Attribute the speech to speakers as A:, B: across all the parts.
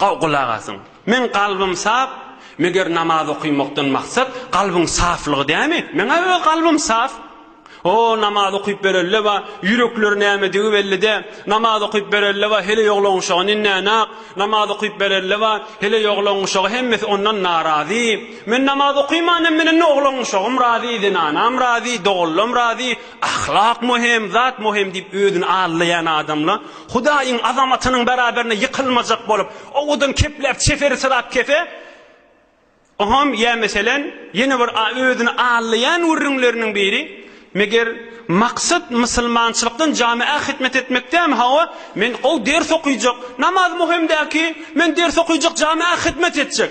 A: Gowy gulak asyň. Meň kalbym sap, meger namaz okymakdan maksat kalbyň saflygy dämi? Meň-ä öz kalbym saf. O, namaz okyp berelleba, ýürekleri nämedigi belli dä. Namaz okyp berelleba, heleý oglan guşagy nindänäk. Namaz okyp berelleba, heleý oglan guşagy hemmesi ondan narazy. Men namaz okymanam bilen oglan guşagym razy, zenanam razy, doganlam razy. Ahlak möhem, zat möhem diýip özüni aldaýan adamla Hudaýyň azamatynyň beraberine ýykylmajak bolup, owadan kepläp çeperisyrap kese, oňam, ýa meselen, ýene bir özüni aldaýan gürrüňleriniň biri, Meger, maksat musulmançylykdan jamiä hytmet etmekdämi? Hawa, men gowy ders okyjak, namaz möhüm däl ki, men ders okyjak, jamiä hytmet etjek.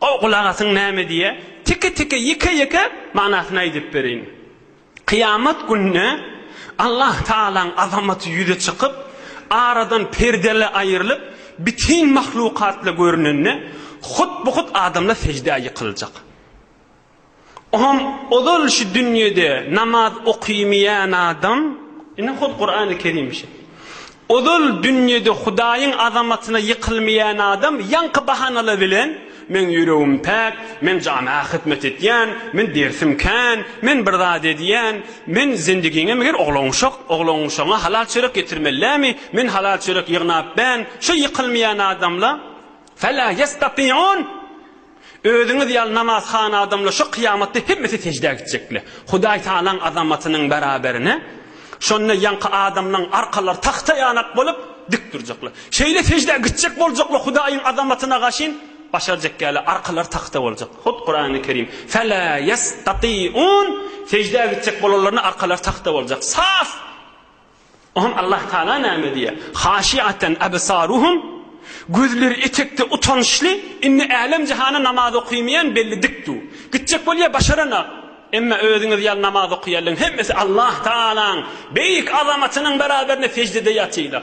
A: Gowy gulak asyň näme diýýär, teke-teke, ýeke-ýeke manysyny aýdyp bereýin. Kyýamat gününe Allah Tagalaň azamaty ýüze çykyp, aradan perdele aýrylyp, bitin mahlukatla görünende, hut-bu-hut adamlar seždä ýykyljak. Oňam ozal şu dünýede namaz okymeýän adam, ine hut Kurany Kerim şu. Ozal dünýede Hudaýyň azamatyna ýykylmaýan adam ýaňky bahanalar bilen, Meň ýüregim päk, men jamaga hyzmat etýän, men dersim kän, men bir zat edýän, men zendigiňe meger oglanuşak, oglanuşagyňa halal çörek getirmeli dämi, men halal çörek ýygnap ben, şu ýykylmaýan adamla, Fela ýestatiun! Özüňiz ýaly namazhana adamlar şo kyýamatda hemmesi seždä gitjekler. Hudaý Tagalaň azamatynyň bäraberine şonda ýaňky adamlaň arkalary tagta ýanak bolup, dik durjaklar. Şeýle seždä gitjek boljaklar Hudaýyň azamatyna gaşyn başarjak ýaly arkalary tagta boljak. Hut Kurany Kerim, Fela ýestatiun, seždä gitjek bolanlaryna arkalary tagta boljak. Saf! Oňa Allah Tagala näme diýýär? Haşiaten absaruhum, Gözleri etekde utançly, indi älem-jahana namaz okymaýan belli dik du. Gitjek bolýa başaranak. Emma özüňiz ýaly namaz okýanlaryň hemmesi Allah Tagalaň beýik azamatynyň beraberinde seždede ýatylar.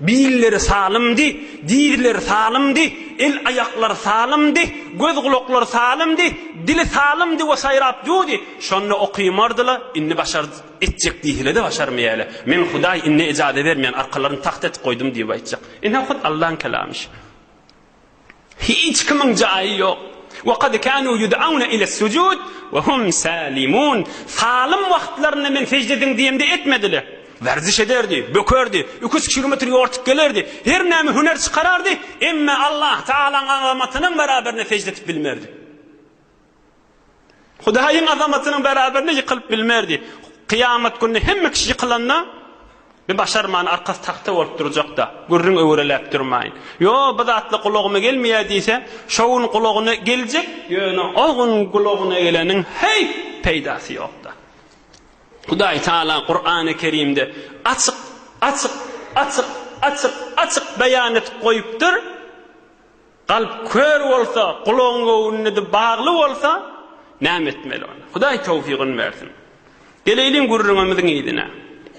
A: Birleri salymdy, dizleri salymdy, el-aýaklary salymdy, göz-gulaklary salymdy, dili salymdy we saýrap duýdy. Şonda okymardy-la, indi başar etjek diýsele-de başarmaýaýla. Men Hudaý indi ejaza bermeýän arkalaryny tagt etip goýdum diýip aýtjak. Ine hut Allaň kelamyş. Hiç kimiň jaýy ýok. Wa kad kanu yud'auna ila sujud wa hum salimun. Salym wagtlarynda men sejde ediň diýemde etmediler. Werziş ederdi, bökerdi, iki üç kilometr ýortup gelerdi, her näme hüner çykarardy, emma Allah Taalaň azamatynyň beraberine sejde edip bilmerdi. Hudaýyň azamatynyň bäraberine ýykylyp bilmerdi. Kyýamat gününe hemme kişi ýykylanda, Bir başarman arkasy tagta bolup durjakda, gürrüň öwreläp durmaýyn. Ýo, bu zatlar gulagyma gelmeýär diýse, şo gün gulagyna geljek, ýöne o gün gulagyna geleniň heý, peýdasy ýokda. Hudaý Taala Kurany Kerimde açyk, açyk, açyk, açyk, açyk beýan edip goýupdyr. Kalp kör bolsa, gulagyň göwünlidi bagly bolsa, näme etmeli onda? Hudaý towfygyn bersin. Geleýliň gürrüňimiziň yzyna.